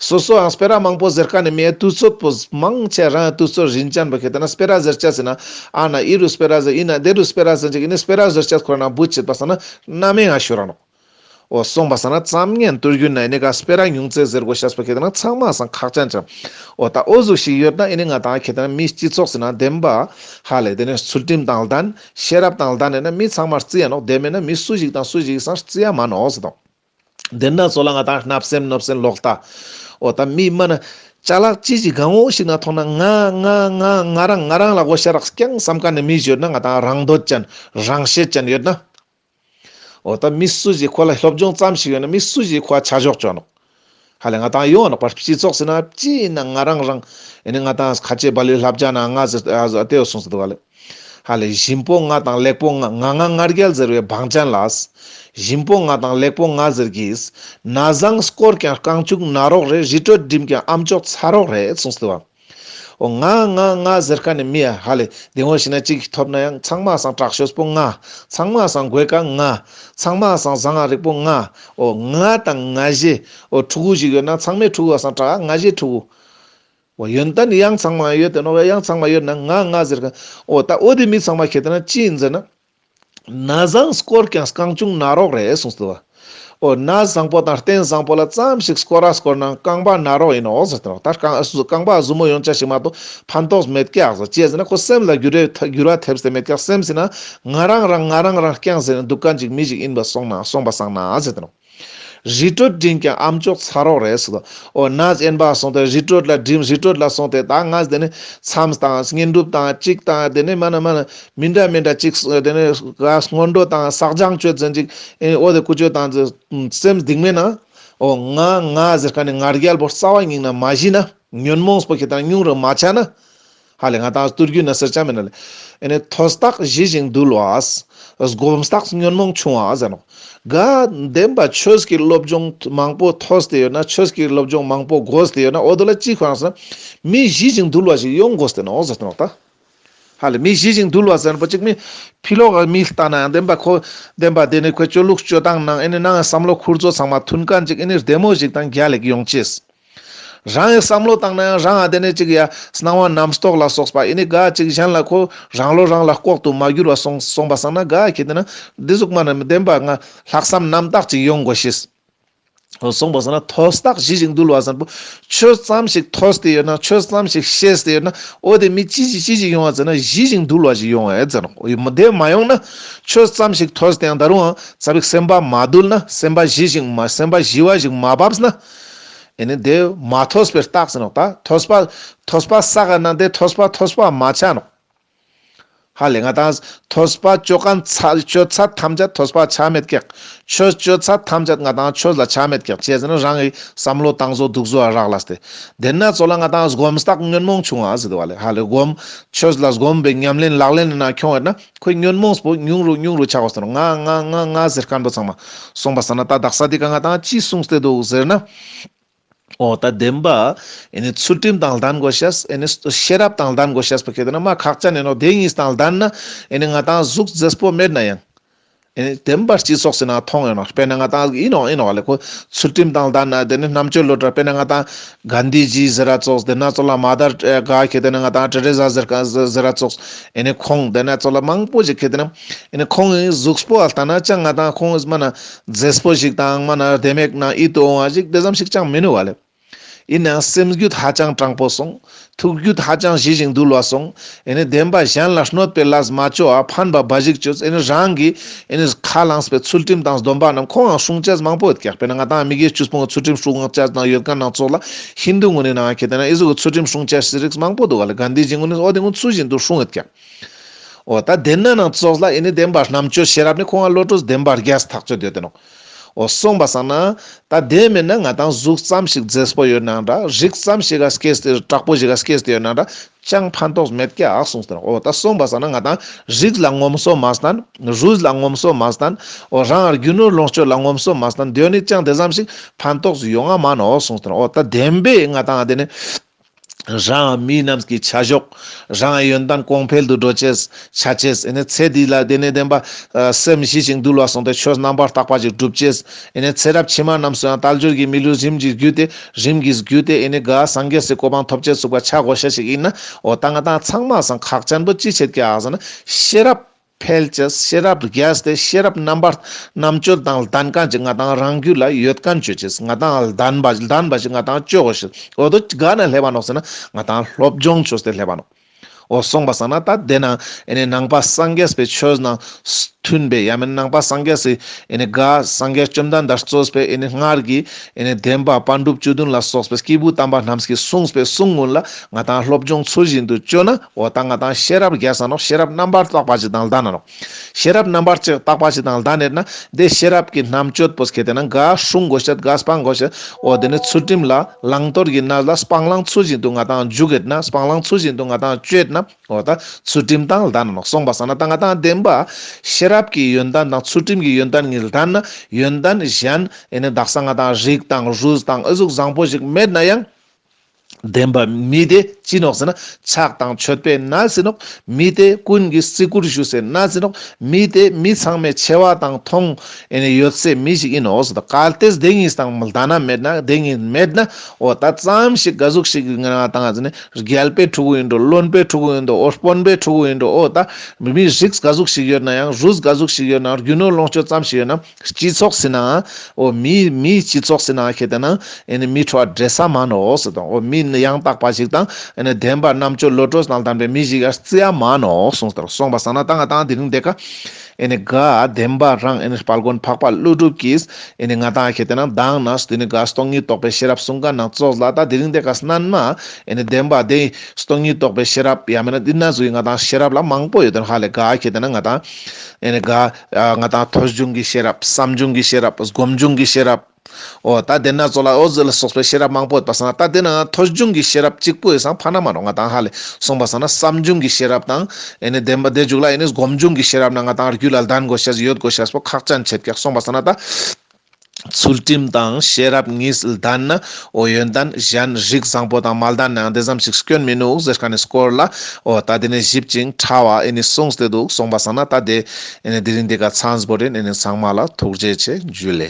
སོ་སོའང་སྤེ་ར་མང་པོ་ཟེར་ཁ་ནས་མའི་དུས་ཚོད་པོ་མང་ཆེ་རང་གི་དུས་ཚོད་རིན་ཅན་པོ་ཁེ་ད་ན་སྤེ་ར་ཟེར་ཆ་ཟེར་ན་ཨ་ན་ཨི་རུ་སྤེ་ར་ཟེར་ཨི་ན་ཨདེ་རུ་སྤེ་ར་ཟེར་འཇིག་གི་ནི་སྤེ་ར་ཟེར་ཆ་ཁོ་ར་ན་འབུ་བྱེད་པ་ཟ་ན་སྣ་མའི་ང་ཤུ་རང་རོ། འོ་གསུངས་པ་ཟ་ན་བརྩམ་ངན་བསྟོད་རྒྱུ་ན་ཨི་ནི་ག་སྤེ་ར་ཉུང་ཙེ་ཟེར་གོ་ཤ་སྤེ་ཁེ་ད་ན་ཚང་མ་སང་ཁག་ཅན་ཅན། འོ་ད་འོ་གཟུགས་ཤིག་ཡོད་ན་ཨི་ནི་ང་དང་ཁེ་ད་ན་མིའི་སྤྱི་ཚོགས་ཟེར་ན་བདེན་པ། ཧ་ལས་དེ་ནས་ཚུལ་ཁྲིམས་དང་ལྡན། ཤེས་རབ་དང་ལྡན་ནས་ན་མི་ཚང་མ་རྩི་ཡ་ནོག་དེ་མེད་ན་མི་སུ་ཞིག་དང་སུ་ཞིག་གིས་སང་རྩི་ཡ་མ་ནོག་ཟེར་དང། བདེན་སྣ་ཚོགས་ལ་ང་དང་བརྣབ་སེམས་གནོད་སེམས་ལོག་ལྟ། ཨོ་ད་མི་སྨྲ་ན། བྱ་གླག་ཅི་ཞིག་དགའ་འོ་ཞིག་ན་མཐོང་ན་ང། ང། ང། ང་རང་ང་རང་ལ་གོ་ཤ་རགས་ཀྱང་བསམ་ཁ་ནས་མི་བཞོད་ན་ང་དང་རང་འདོད་ཅན། རང་ཤེད་ཅན་ཡོད་ན། ཨོ་ད་མི་སུ་ཞིག་ཁོ་ལ་སློབ་སྦྱོང་ཙམ་ཞིག་ཡོད་ན་མི་སུ་ཞིག་ཁོ་ལ་ཆ་ཞོག་བྱོས་ནོ། ཧ་ལས་ང་དང་ཡོང་རག་པར་སྤྱི་ཚོགས་ཟེར་ན་སྤྱི་ཡིན་ན་ང་རང་རང་ཡིན་ང་དང་ཁ་ཆེ་བ་ལོས་ལྷ་བྱ་ན་ང་ཟེར་ལྟས་ཡོད་སོང་ཟེར་བ་ལོས། ཧ་ལས་གཞིན་པོ་ང་དང་ལེགས་པོ་ང་ང་ང་ང་རྒྱལ་ཟེར་བའི་བང་ཅན་ལགས། གཞིན་པོ་ང་དང་ལེགས་པོ་ང་ཟེར་གིས། ན་བཟང་སྐོར་ཀྱང་རྐང་བཅུག་ན་རོགས་རེད་བཞི་སྤྲོད་འགྲིམ་ཀྱང་ཨམ་ཅོག་ཚ་རོགས་རེད་སོང་ཟེར་བ། ཨོ་ང་ང་ང་ཟེར་ཁ་ནས་མི་ཧ་ལས་དེང་བོ་ཞིག་ན་གཅིག་གིས་ཐོབ་ན་ཡང་ཚང་མ་སང་དྲག་ཤོས་པོ་ང། ཚང་མ་སང་དགོད་ཀ་ང། ཚང་མ་སང་བཟང་ང་རིག་པོ་ང། ཨོ་ང་དང་ང་བཞི། ཨོ་ཕྲུ་གུ་ཞིག་ཡོད་ན་ཚང་མས་ཕྲུ་གུ་སང་དྲག་ང་བཞི་ཕྲུ་གུ། ཨོ་ཡོན་ཏན་གཡང་ཚང་མ་ཡོད་དེ་ནོ་གཡང་ཚང་མ་ཡོད་ན་ང་ང་ཟེར་ཁ། ཨོ་ད་ཨོ་དེ་མི་ཚང་མ་ཁྱེད་ན་ཅི་ཡིན་ཟེར་ན། ན་བཟང་སྐོར་ཀྱང་རྐང་ཅུང་ན་རོག་རེད་གསུངས་སོ། འོ་ན་བཟང་པོ་དང་རྟེན་བཟང་པོ་ལ་ཙམ་ཞིག་སྐོར་ར་སྐོར་ན་རྐང་པ་ན་རོག་ཡིན་ནོ་ཟེར་ཏེ་ད་རྐང་པ་གཟུ་མོ་ཡོང་ཆ་ཞིག་མ་གཏོགས་ཕན་ཐོགས་མེད་སྐྱག་ཟེར་བྱས་ཟིན་ན་ཁོ་སེམས་ལ་འགྱུར་བ་ཐེབས་སེ་མེད་སྐྱག་སེམས་ཟིན་ན་ང་རང་རང་ང་རང་རང་སྐྱག་ཟེར་ནས་འདུག་ག་འཇིགས་མི་འཇིགས་ཡིན་པ་སོང་ན་སོང་པ་སང་ན་ཟེར་ཏེ། རི་ཁྲོད་འགྲིམས་ཀྱང་ཨམ་ཅོག་ཚ་རོགས་རེད་ཟེར། ཨོ་ན་ཨེན་པ་སོང་སྟེ་རི་ཁྲོད་ལ་འགྲིམས་རི་ཁྲོད་ལ་སོང་སྟེ་ད་ང་དེ་ནས་མཚམས་དང་བསྙེན་སྒྲུབ་དང་གཅིག་དང་དེ་ནས་མ་ན་མ་ན་མི་འདྲ་མི་འདྲ་གཅིག་དེ་ནས་སྔོན་འགྲོ་དང་བསགས་སྦྱང་སྤྱོད་ཟིན་ཅིག་ཨོ་དེ་ཀུ་ཅོ་དང་སེམས་སྡིག་མེད་ན། ཨོ་ང་ང་ཟེར་ཁ་ནས་ངར་རྒྱལ་པོ་རྩ་བ་ཉིང་ན་མ་བཞི་ན་ཉོན་མོངས་པོ་ཁེ་དང་སྙུང་རུ་མ་ཆགས་ན། ཧ་ལས་ང་དང་སྟོད་རྒྱུད་ན་སེར་སྐྱ་མི་ན་ལས། ཨེ་ནས་ཐོས་བརྟགས་གཞི་བཞིན་འདུལ་བ། སྒོམ་བརྟགས་ཉོན་མོངས་ཆུང་བ་ཟེར་ནོ། དགའ་ལྡན་པ་ཆོས་ཀྱི་སློབ་སྦྱོང་མང་པོ་ཐོས་ཏེ་ཡོད་ན་ཆོས་ཀྱི་སློབ་སྦྱོང་མང་པོ་གོ་ཏེ་ཡོད་ན་འོ་དོ་ལ་གཅིག་ཁོ་རང་ཟེར་ན། མི་གཞི་བཞིན་འདུལ་བ་ཞིག་ཡོང་དགོས་ཏེ་ནོ་ཟེར་ནོ་ད། ཧ་ལས་མི་གཞི་བཞིན་འདུལ་བ་ཟེར་པ་གཅིག་མི་ཕི་ལོག་གི་མི་ལྟ་ན་བདེན་པ་ཁོ། བདེན་པ་དེ་ནི་ཁོའི་སྤྱོད་ལུགས་སྤྱོད་སྟངས་ནང་ཨེ་ནས་ནང་བསམ་བློ་འཁུར་ཚོ་ཚང་མ་མཐུན་ག་འཇིག་ཨེ་ནས་བདེ་མོ་ཞིག་དང་རྒྱ་ལེགས་ཡོང་ཆེད། རང་གིས་བསམ་བློ་བཏང་ན་ཡང་རང་ཨ་དེ་ནས་ཅིག་ཡ། སྣང་བ་རྣམ་རྟོག་ལ་སོགས་པ་ཨེ་ནི་ག་ཅིག་གཞན་ལ་ཁོ། རང་བློ་རང་ལ་ལྐོག་ཏུ་མ་གྱུར་བ་སོང་སོང་པ་བསམ་ན་ག་གི་དེ་ན། འདི་གཟུགས་མ་ནི་མི་བདེན་པ་ང། ལྷག་བསམ་རྣམ་བརྟག་ཅིག་ཡོང་དགོས་ཤིས། སོང་པ་བསམ་ན་ཐོས་རྟགས་གཞི་ཞིག་འདུལ་བ་བཟང་པོ། ཆོས་ཙམ་ཞིག་ཐོས་ཏེ་ཡོད་ན་ཆོས་ཙམ་ཞིག་ཤེས་ཏེ་ཡོད་ན། ཨོ་དེ་མི་ཅི་ཞིག་ཅི་ཞིག་ཡོང་བ་ཟེར་ན་གཞི་ཞིག་འདུལ་བ་ཞིག་ཡོང་བ་ཨེ་ཟེར་ན། མི་དེ་མ་ཡོང་ན། ཆོས་ཙམ་ཞིག་ཐོས་ཏེ་ཡང་ད་རུང་ཨང་རྩ་བའི་སེམས་པ་མ་འདུལ་ན་སེམས་པ་གཞི་ཞིག་མ་སེམས་པ་གཞི་བ་ཞིག་མ་བབས་ན། ཨེ་ནི་དེ་མ་ཐོས་པའི་རྟགས་ཟིན་ནོ། ད་ཐོས་པ་ཐོས་པ་ས་ག་ན་དེ་ཐོས་པ་ཐོས་པ་མ་ཆགས་ནོ། ཧ་ལས་ང་དང་ཐོས་པ་སྤྱོད་གང་སྤྱོད་ཚ་ཐམས་ཅད་ཐོས་པ་ཆགས་མེད་ཀྱི། ཆོས་སྤྱོད་ཚ་ཐམས་ཅད་ང་དང་ཆོས་ལ་ཆགས་མེད་ཀྱི་བྱས་ཟིན་རང་གི་བསམ་བློ་བཏང་བཟོ་སྡུག་བཟོ་བ་རག་ལ་སྟེ། དེ་ན་ཚོ་ལ་ང་དང་སྒོམ་རྟགས་ཉོན་མོངས་ཆུང་བ་ཟིན་ཏུ་བ་ལས་ཧ་ལས་སྒོམ་ཆོས་ལ་སྒོམ་པའི་ཉམས་ལེན་ལག་ལེན་ནང་འཁྱོངས་ཡོད་ན། ཁོས་ཉོན་མོངས་པོ་ཉུང་རུ་ཉུང་རུ་ཆགས་པ་སོགས་ལ་ང་ང་ང་ང་ཟེར་དཀའ་འགྲོ་ཚང་མ་སོང་པ་ཟ་ན་ད་དག་ས་དེ་ག་ང་དང་ཅིས་བསྲུང་སྟེ་འདུག་ཟེར་ན། འོ་ད་བདེན་པ། ཨེ་ནི་ཚུལ་ཁྲིམས་དང་ལྡན་དགོས་ཤེས་ཨེ་ནི། ཤེས་རབ་དང་ལྡན་དགོས་ཤེས་པ་གལ་ཏེ་ན་མ་ཁག་ཅག་ནས་ནོ་དེ་གཉིས་དང་ལྡན་ན་ཨེ་ནི་ང་དང་གཟུགས་མཛེས་པོ་མེད་ན་ཡང། བདེན་པར་སྤྱི་སོགས་ཟེར་ན་མཐོང་ཡོད་ན་དཔེར་ན་ང་དང་ཨིན་ཨོ་ཨིན་ཨོ་ལེ་ཁོ་ཚུལ་ཁྲིམས་དང་ལྡན་ན་དེ་ནི་རྣམ་དཔྱོད་བློ་གྲོས་དཔེར་ན་ང་དང་གྷན་དྷི་ཇི་ཟེར་ར་ཙོགས་དེ་ན་ཙོ་ལ་མ་དར་ཀ་ཁེ་དེ་ན་ང་དང་ཏྲེ་རེ་ཟ་ཟེར་ར་ཙོགས་ཨེ་ནི་ཁོང་དེ་ན་ཙོ་ལ་མང་པོ་ཞིག་ཁེ་དེ་ན་ཨེ་ནི་ཁོང་ཨི་གཟུགས་པོ་ཨ་ལྟ་ན་ཅང་ང་དང་ཁོང་ཨི་སྨྲ་ན་རྫེས་པོ་ཞིག་དང་སྨྲ་ན་བདེ་མེད་ན་ཨི་དོ་འོང་བ་ཞིག་དེ་ཙམ་ཞིག་ཅང་མི་ནུས་བ་ལེ། ཡིན་ནའང་སེམས་རྒྱུད་ཧ་ཅང་སྤྲང་པོ་སོང། ཐུགས་རྒྱུད་ཧ་ཅང་ཞི་ཞིང་དུལ་བ་སོང། བདེན་པ་གཞན་ལ་གནོད་པའི་ལས་མ་བྱོས་ཨ་ཕ་འབའ་ཞིག་བྱོས། རང་གིས་ཁ་བླངས་པའི་ཚུལ་ཁྲིམས་དང་སྡོམ་པ་རྣམས་ཁོང་ཡང་སྲུང་བྱས་མང་པོ་ཡོད་ཀྱང་དཔེར་ན་ང་དང་མི་གཞན་ཆུ་སྤུངས་ཀྱི་ཚུལ་ཁྲིམས་སྲུང་བྱས་གནང་ཡོད་མཁན་སྣ་ཚོགས་ལ་ཧིན་དུ་ངོས་ནས་ནང་ཁྱེད་ནང་སོགས་ཀྱི་ཚུལ་ཁྲིམས་སྲུང་བྱས་རིགས་མང་པོ་འདུག་ག་ལ་ག་འདི་བཞིན་ངོས་ནས་ཨོ་དེ་ངོ་ཚུལ་བཞིན་དུ་སྲུང་ཡོད་ཀྱང། ཨོ་ད་བདེན་ན་ནང་སོགས་ལ་བདེན་པ་རྣམ་དཔྱོད་ཤེས་རབ་ནི་ཁོང་ལ་བློ་གྲོས་བདེན་པར་རྒྱས་སུ་ཐག་གཅོད་འདོད་དོན་ནོ། འོ་གསུངས་པ་བསམ་ན། ད་དེ་མེད་ན་ང་དང་གཟུགས་ཙམ་ཞིག་རྫེས་པོ་ཡོད་ན་འདྲ་རིགས་ཙམ་ཞིག་ག་སྐྱེས་ཏེ་དྲག་པོ་ཞིག་ག་སྐྱེས་ཏེ་ཡོད་ན་འདྲ་ཅང་ཕན་ཐོགས་མེད་ཀྱྀ་གསུངས་ཟེར་འོ་ད་གསུངས་པ་བསམ་ན་ང་དང་རིགས་ལ་ངོམ་སོ་མ་བསྟན་རུས་ལ་ངོམ་སོ་མ་བསྟན་འོ་རང་རྒྱུ་ནོར་ལོངས་སྤྱོད་ལ་ངོམ་སོ་མ་བསྟན་དོན་ནི་ཅང་དེ་ཙམ་ཞིག་ཕན་ཐོགས་སུ་ཡོད་ང་མ་ནའོ་གསུངས་ཟེར་འོ་ད་བདེན་པས་ང་དང་འདི་ནི། རང་མི་རྣམས་ཀྱི་བྱ་གཞོག་རང་ཡོན་ཏན་གོང་འཕེལ་དུ་འགྲོ་ཆེད་བྱ་ཆེད། ཚེ་འདི་ལ་བདེ་གནས་ལྡན་པ། སེམས་ཞི་ཞིང་དུལ་བ་སོགས་འདོད་ཆོས་རྣམ་པར་དག་པ་ཞིག་སྒྲུབ་ཆེད། ཚེ་རབས་ཕྱི་མ་རྣམས་སུའང་རྟ་སྦྱོར་གྱི་མི་ལུས་རིམ་གྱིས་བརྒྱུད་དེ། རིམ་གྱིས་བརྒྱུད་དེ། དགའ་བ་སངས་རྒྱས་སུ་གོ་འཕང་ཐོབ་ཆེད་ཟུག་པ་ཆག་སྒོ་ཤས་ཤིག་ཡིན། འོ་ད་ང་དང་ཚང་མ་ཟང་ཁག་ཅན་པོ་ཅི་བྱེད་ཀྱི་ཨང་ཟེར་ན། ཤེས་རབ། ཕལ་ཆེར་ཤེས་རབ་ཏུ་གལ་ཏེ་ཤེས་རབ་རྣམ་པར་རྣམ་སྤྱོད་དང་ལྡན་གང་ཅིག་ང་དང་རང་རྒྱུད་ལ་ཡོད་གང་ཆོས་ཅིག་ང་དང་ལྡན་པ་ལྡན་པ་ཞིག་ང་དང་སྤྱོད་འོ་ཞིག་འོ་དོ་ག་ན་ལྷས་པ་ནོ་ཟེར་ན་ང་དང་སློབ་སྦྱོང་ཆོས་དེ་ལྷས་པ་ནོ། འོ་གསུངས་པ་ཟ་ན་ད་དེ་ན་ནང་པ་སངས་རྒྱས་པའི་ཆོས་རྣམས་མཐུན་པས་ཡང་མིན་ནང་པ་སངས་རྒྱས་སུ་དགའ་སངས་རྒྱས་བཅོམ་ལྡན་འདས་གཙོས་པའི་སྔར་གྱི། དེ་ནས་བདེན་པ་དཔལ་འབྲུག་བཅུ་བདུན་ལ་སོགས་པའི་སྐྱེས་བུ་དམ་པ་རྣམས་ཀྱིས་གསུངས་པའི་གསུང་དངོས་ལ་ང་དང་སློབ་སྦྱོང་ཚུལ་བཞིན་དུ་སྤྱོད་ན་འོ་ད་ང་དང་ཤེས་རབ་རྒྱལ་ས་ནོ་ཤེས་རབ་རྣམ་པར་དག་པ་ཅིག་དང་ལྡ་ན་ནོ། ཤེས་རབ་རྣམ་པར་ཅིག་དག་པ་ཅིག་དང་ལྡ་ནས་ན་དེ་ཤེས་རབ་ཀྱི་རྣམ་དཔྱོད་པོས་ཁེ་དེ་ན་འགའ་ཧྲུག་མགོ་བཤད་འགའ་སྤང་མགོ་བཤད་འོ་དེ་ནས་ཚུལ་ཁྲིམས་ལ་བླང་དོར་གྱི་ན་ལ་སྤང་བླང་ཚུལ་བཞིན་དུ་ང་དང་རྒྱུག་གེ་ན་སྤང་བླང་ཚུལ་བཞིན་དུ་ང་དང་སྤྱོད་ན་འོ་ད་ཚུལ་ཁྲིམས་དང་ལྡན་ནོ་གསུངས་པ་ས་ན་ད་ང་དང་ལྡན་པ། ཤེས་རབ་ཀྱི་ཡོན་ཏན་དང་ཚུལ་ཁྲིམས་ཀྱི་ཡོན་ཏན་གཉིས་ལྡན་ན་ཡོན་ཏན་གཞན་ཡེ་ནས་བདག་ས་ང་དང་རིགས་དང་རུས་དང་ཨུ་གཟུགས་བཟང་པོ་ཞིག་མེད་ན་ཡང། ལྡན་པ་མི་དེ་ཅི་ནོ་ཟེར་ན་ཆགས་དང་མཆོད་པས་ན་ཟིན་ནོ། མི་དེ་ཀུན་གྱིས་བརྩི་བཀུར་ཞུ་སའི་ན་ཟིན་ནོ། མི་དེ་མི་ཚང་མས་ཆེ་བ་དང་མཐོང། ཡོད་སའི་མི་ཞིག་ཡིན་ནོ་ཟེར་ཏོ་གལ་ཏེ་དེ་གཉིས་དང་ལྡན་ན་མེད་ན་དེ་གཉིས་མེད་ན། འོ་ད་ཙམ་ཞིག་དགའ་གཟུགས་ཤིག་ངན་བ་དང་ནི་རྒྱལ་པོའི་ཕྲུ་གུ་ཡིན་འགྲོ་བློན་པོའི་ཕྲུ་གུ་ཡིན་འགྲོ་འོ་དཔོན་པོའི་ཕྲུ་གུ་ཡིན་འགྲོ་འོ་ད་མི་མི་རིགས་དགའ་གཟུགས་ཤིག་ཡོད་ན་ཡང་རུས་དགའ་གཟུགས་ཤིག་ཡོད་ན་རྒྱུ་ནོར་ལོངས་སྤྱོད་ཙམ་ཞིག་ཡོད་ན་སྤྱི་ཚོགས་ཟིན་ན་འོ་མི་མི་སྤྱི་ཚོགས་ཟིན་ན་ཁེ་དེ་ན་ཨེ་ནི་མི་ཁྲོ་བ་འདྲེ་ས་མ་ནོ་ཟེར་དང་འོ་མི་ནི་ཡང་དག་པ་ཞིག་དང་ཨེ་ནི་བདེན་པ་རྣམ་དཔྱོད་བློ་གྲོས་དང་ལྡན་པའི་མི་ཞིག་ཡར་བརྩི་ཡ་མ་ནོ་གསུངས་དང་སོང་པ་བསམ་ན་ད་ང་དང་དེ་རིང་འདེགས་ཀ། ཨེ་ནི་དགའ་ལྡན་པ་རང་ཨེ་ནི་དཔལ་མགོན་འཕགས་པ་ཀླུ་སྒྲུབ་ཀྱིས་ཨེ་ནི་ང་དང་ཁྱེད་དེ་ནང་དྭངས་ན་སྟུ་ནི་དགའ་སྟོང་ཉིད་རྟོགས་པའི་ཤེས་རབ་གསུང་ག་ནང་ཙོག་ལ་ད་དེ་རིང་དེ་ག་སྣ་ན་ཨེ་ནི་བདེན་པ་དེ་སྟོང་ཉིད་རྟོགས་པའི་ཤེས་རབ་ཡང་མེད་ན་འདི་ན་ཟུག་ཡིན་ང་དང་ཤེས་རབ་ལ་མང་པོ་ཡོད་དོན་ཧ་ལས་དགའ་ཁྱེད་དེ་ན་ང་དང་ཨེ་ནི་དགའ། ང་དང་ཐོས་བྱུང་གི་ཤེས་རབ་བསམ་བྱུང་གི་ཤེས་རབ་སྒོམ་བྱུང་གི་ཤེས་རབ། ཨོ་ད་དེ་ནག་ཚོགས་ལ་ཨོ་ཛི་ལ་སོགས་པའི་ཤེས་རབ་མང་པོ་ཡོད་པ་བསམ་ན་ད་དེ་ནའང་ཐོ་གཞུང་གི་ཤེས་རབ་གཅིག་པོ་ཡོད་བསམ་ཕ་ན་མ་རོ་ང་དང་ཧ་ལས་སོང་པ་བསམ་ན་བསམ་བྱུང་གི་ཤེས་རབ་དང། ཨེ་ནས་བདེན་པ་བདེ་འཇུག་ལ་ཨེ་ནས་སྒོམ་བྱུང་གི་ཤེས་རབ་ན་ང་དང་རྒྱུད་ལ་ལྡན་དགོས་ཤེས་ཡོད་དགོས་ཤེས་པོ་ཁག་ཅན་ཆད་ཀྱི་སོང་པ་བསམ་ན་ད། ཚུལ་ཁྲིམས་དང་ཤེས་རབ་གཉིས་ལྡན་ན་ཨོ་ཡོན་ཏན་གཞན་རིགས་བཟང་པོ་དང་མ་ལྡན་ནའང་དེ་ཙམ་ཞིག་སྐྱོན་མི་ནུས་ཟེར་ཁ་ནས་བསྐོར་ལ་ཨོ་ད་དེ་ནས་ཞིབ་ཅིང་ཕྲ་བ་ཨེ་ནས་གསུངས་ཏེ་འདུག་སོང་པ་བསམ་ན་ད་དེ། ཨེ་ནས་དེ་རིང་འདི་ག་ཚངས་པོ་རེད་ཨེ་ནས་ཚངས་མ་ལ་ཐུགས་རྗེ་ཆེ་འཇུ་ལེ།